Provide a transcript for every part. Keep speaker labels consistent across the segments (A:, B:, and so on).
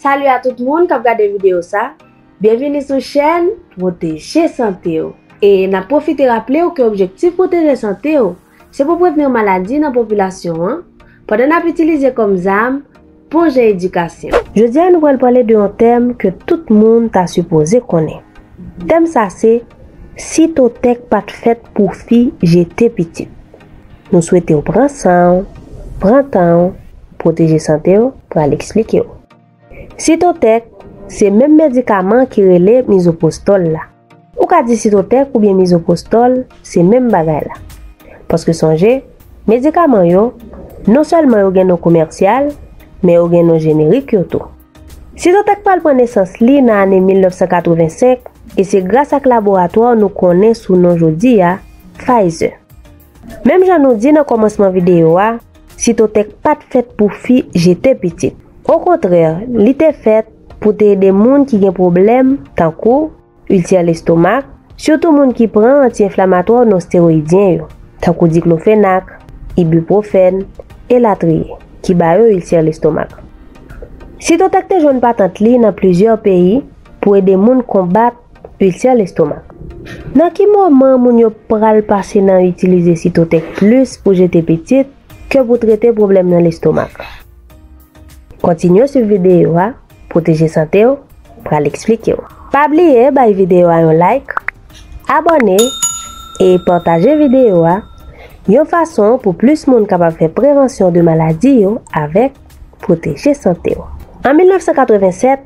A: Salut a tout moun kap gade video sa, byenvini sou chèn pwoteje sante w e nap pwofite raple w ke objektif pwoteje sante w Se pou prevni maladi nan popilasyon an, pandan n ap itilize kòm zam bon jan edikasyon. Jodi a nou pral pale de yon tèm ke tout moun ta sipoze konnen. Tèm sa se, Sitotèk pa t fèt pou fi jete pitit. Nou swete w pran san w, pran tan w, pwoteje sante w, pral eksplike w. Sitotèk, Se menm medikaman ki rele mizopwostòl la. Ou ka di sitotèk oubyen mizopwostòl, se menm bagay la. Paske sonje, medikaman yo, non sèlman yo gen non komèsyal, men yo gen non jenerik yo tou. Sitotèk pral pran nesans li nan ane 1985 e se gras ak laboratwa nou konnen sou non jodi a, Pfizer. Menm jan nou di nan kòmansman videyo a, Sitotèk pa t fèt pou fi jete pitit. Okontrè, li te fèt pou te ede moun ki gen pwoblèm tankou, ilsè lestomak, sitou moun ki pran anti-enflamatwa w nonsteroyidyen yo, tankou diklofenak, ibipwofèn, elatriye, ki ba yo ilsè lestomak. Sitotèk te jwenn patant li nan plizyè peyi pou ede moun konbat Ulcère l'estomac. Nan ki moman moun yo pral pase nan itilize Cytotec plis pou jete pitit ke pou trete pwoblèm nan lestomak? Kontinye swiv videyo a, Pwoteje Sante w pral eksplike w. Pa bliye bay videyo a yon like, abòne e pataje videyo a yon fason pou plis moun kapab fè prevansyon de maladi yo avèk Pwoteje Sante w. An 1987,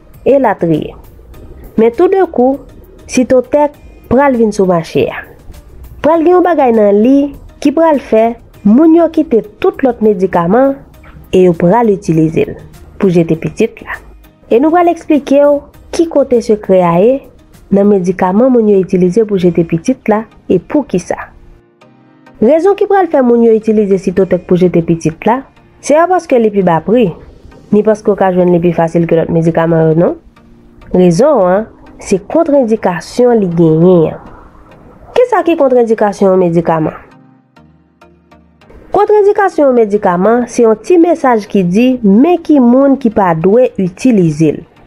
A: elatriye. Men tou de kou, Sitotèk pral vin sou mache a. Pral gen yon bagay nan li ki pral fè moun yo kite tout lòt medikaman e yo pral itilize l pou jete pitit la. E nou pral eksplike w ki kote sekrè a ye nan medikaman moun yo itilize pou jete pitit la e poukisa. Rezon ki pral fè moun yo itilize Sitotèk pou jete pitit la, se pa paske li pi ba pri, ni paske w ka jwenn li pi fasil ke lòt medikaman yo non. Rezon an, se kontrendikasyon li genyen an. Kisa ki kontrendikasyon yon medikaman? Kontrendikasyon yon medikaman, se yon ti mesaj ki di men ki moun ki pa dwe itilize l.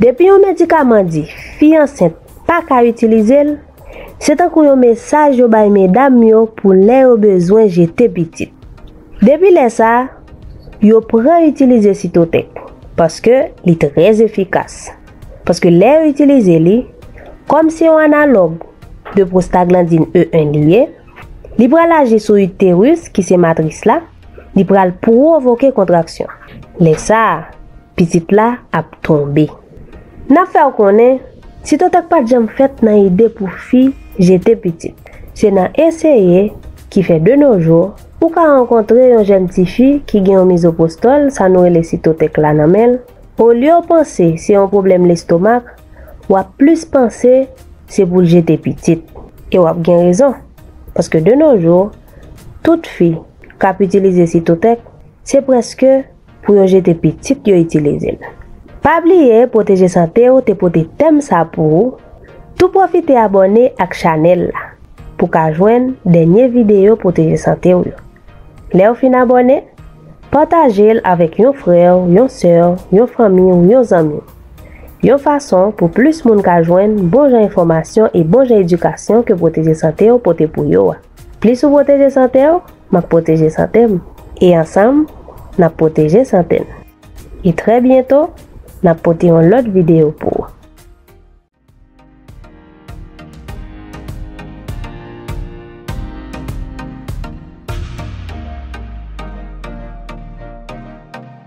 A: Depi yon medikaman di fi ansent pa ka itilize l, se tankou yon mesaj yo bay medam yo pou lè yo bezwen jete pitit. Depi lè sa, yo pran itilize Cytotec paske li trè efikas. Paske lè yo itilize li, kòm se yon analòg de prostaglandin E1 li ye, li pral aji sou uterus ki se matris la, li pral pwovoke kontraksyon. Lè sa. Pitit la ap tonbe. N ap fè w konnen, ti totak pa t janm fèt nan ide pou fi jete pitit. Se nan eseye ki fè de no jou, ou ka rankontre yon jèn ti fi ki gen yon mizopwostòl, sa nou rele sitotek la, nan men l. Olye w panse se yon pwoblèm lestomak, w ap plis panse se pou l jete pitit. E w ap gen rezon, paske de no jou, tout fi k ap itilize sitotek, se prèske. pou yo jete pitit yo itilize l. Pa bliye pwoteje sante w te pote tèm sa pou ou tou pwofite abòne ak chanèl la pou ka jwenn dènye videyo pwoteje sante w yo lèw fin abòne pataje l avèk yon frè w yon sè w yon fanmi w yon zanmi w yon fason pou plis moun ka jwenn bon jan enfòmasyon e bon jan edikasyon ke pwoteje sante w pote pou yo a. Plis ou pwoteje sante w, m ap pwoteje sante m. E ansanm, n ap pwoteje sante n. E trè byento, n ap pote yon lòt videyo pou ou.